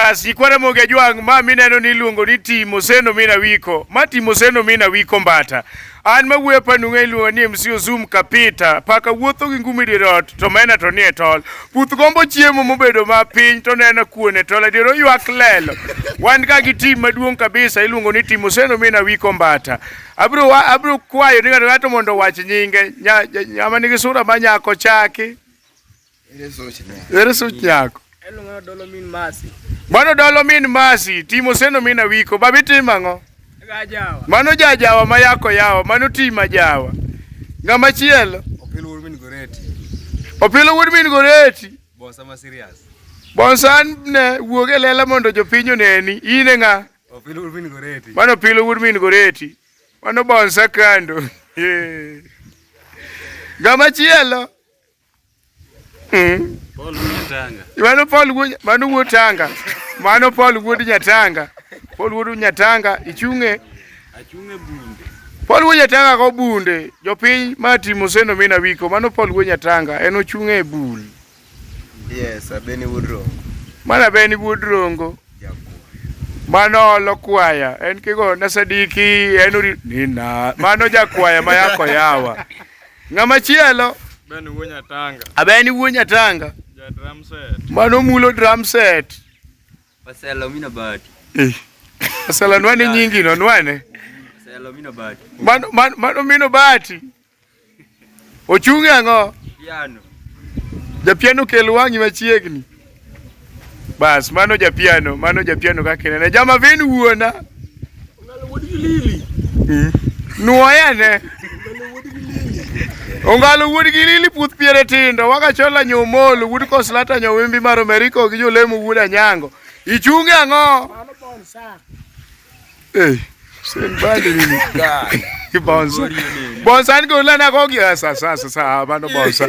Asikwa Ramogi Ajwang' ma mineno ni iluongo ni Timoseno Mina Wiko. Ma Timoseno Mina Wiko Mbata. An ma wuoyo pa nung'e iluongo ni MC Ozum Kapita. Paka wuotho gi ngumi dier ot to mena to nie tol. Puth gombo chiemo mobedo ma piny to nena kuon e tol adier oywak lelo. Wan ka gi tim maduong' kabisa iluongo ni Timoseno Mina Wiko Mbata. Abro wa- abro kwayo ni ng'ato ng'ato mondo owach nyinge. Nya- nya- Ng'ama nigi sura ma nyako chaki. Ere such nyako? Mano dolo min masi. Mano dolo min masi, timo seno min awiko, babi timo ang'o? Gajawa. Mano jajawa ma yako yawa, mano ti ma jawa. Ng'ama chielo? Opilo wuod min goreti. Opilo wuod min goreti. Bonsa ma serious. Bonsa ne wuog e lela mondo jopiny oneni, in e ng'a? Opilo wuod min goreti. Mano opilo wuod min goreti. Mano bonsa kando. Ng'ama chielo? Mm. Mano Paul wuod mano wuod Tanga. Mano Paul wuod Nyatanga. Paul wuod Nyatanga ichunge. Achunge bunde. Paul wuod Nyatanga go bunde. Jopiny ma timo seno mina wiko. Mano Paul wuod Nyatanga en ochunge e bul. Yes, abeni wuod Rongo. Mana beni wuod Rongo. Mano olo kwaya. En kigo na sadiki en ori nina. Mano jakwaya ma yako yawa. Ng'ama chielo. Ben wuo Nyatanga. Abeni wuo Nyatanga. Ja drum set. Mano mulo drum set. Waselo mina bati. Eh. Waselo nwane nyingi no nwane. Waselo mina bati. Mano mano mano mino bati. Ochunge ang'o? Piano. Ja piano kel wang'i machiegni. Bas, mano japiano, mano japiano kaka inene. Jama vin wuona. Mm. Nuoya ne. Ongalo wuod gi lili puth piere tindo waka chola nyomolo wuod koslata nyowimbi mar Ameriko gi jolemo wuod anyango. Ichunge ang'o? Hey, Hussein Bande ni mkali. Bonsa. Bonsa ni kula na kogi sasa sasa sasa bano bonsa.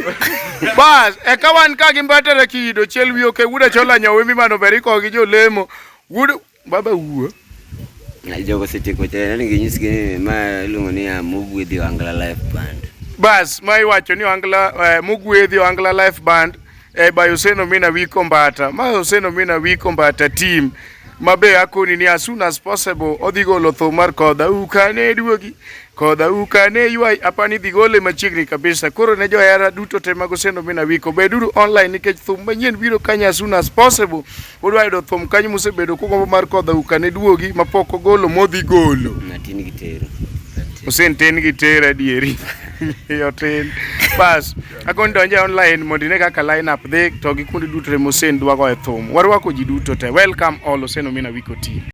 Bas, ekawan ka gimbata na kido chelwi oke wuda chola nyawe mi mano beri kogi jo lemo. Wuda baba wuo. Na jogo siti kote na ngi nyisi kini ma lungo ni ya mugwedhi wangla life band. Bas, ma iwacho ni wangla eh, mugwedhi wangla life band. e bayo oseno mina wiko mbata ma oseno mina wiko mbata team mabe akoni ni as soon as possible odhi golo tho mar kodha ukane duogi kodha ukane ywai apani idhi gole machiegni kabisa koro ne johera duto te mag oseno mina wiko beduru online nikech thum manyien biro kanya as soon as possible Udwa yudo thum kanyo musebedo kugombo mar kodha ukane duogi mapok ogolo modhi golo. Natin gi tero. Usin tin gi tero adieri. Yo tin. Bas, akon donje online mondo ine kaka line up dhi to gi kundi duto te musin dwago e thum. Warwako ji duto te. Welcome all Usin Omina Wiko Team.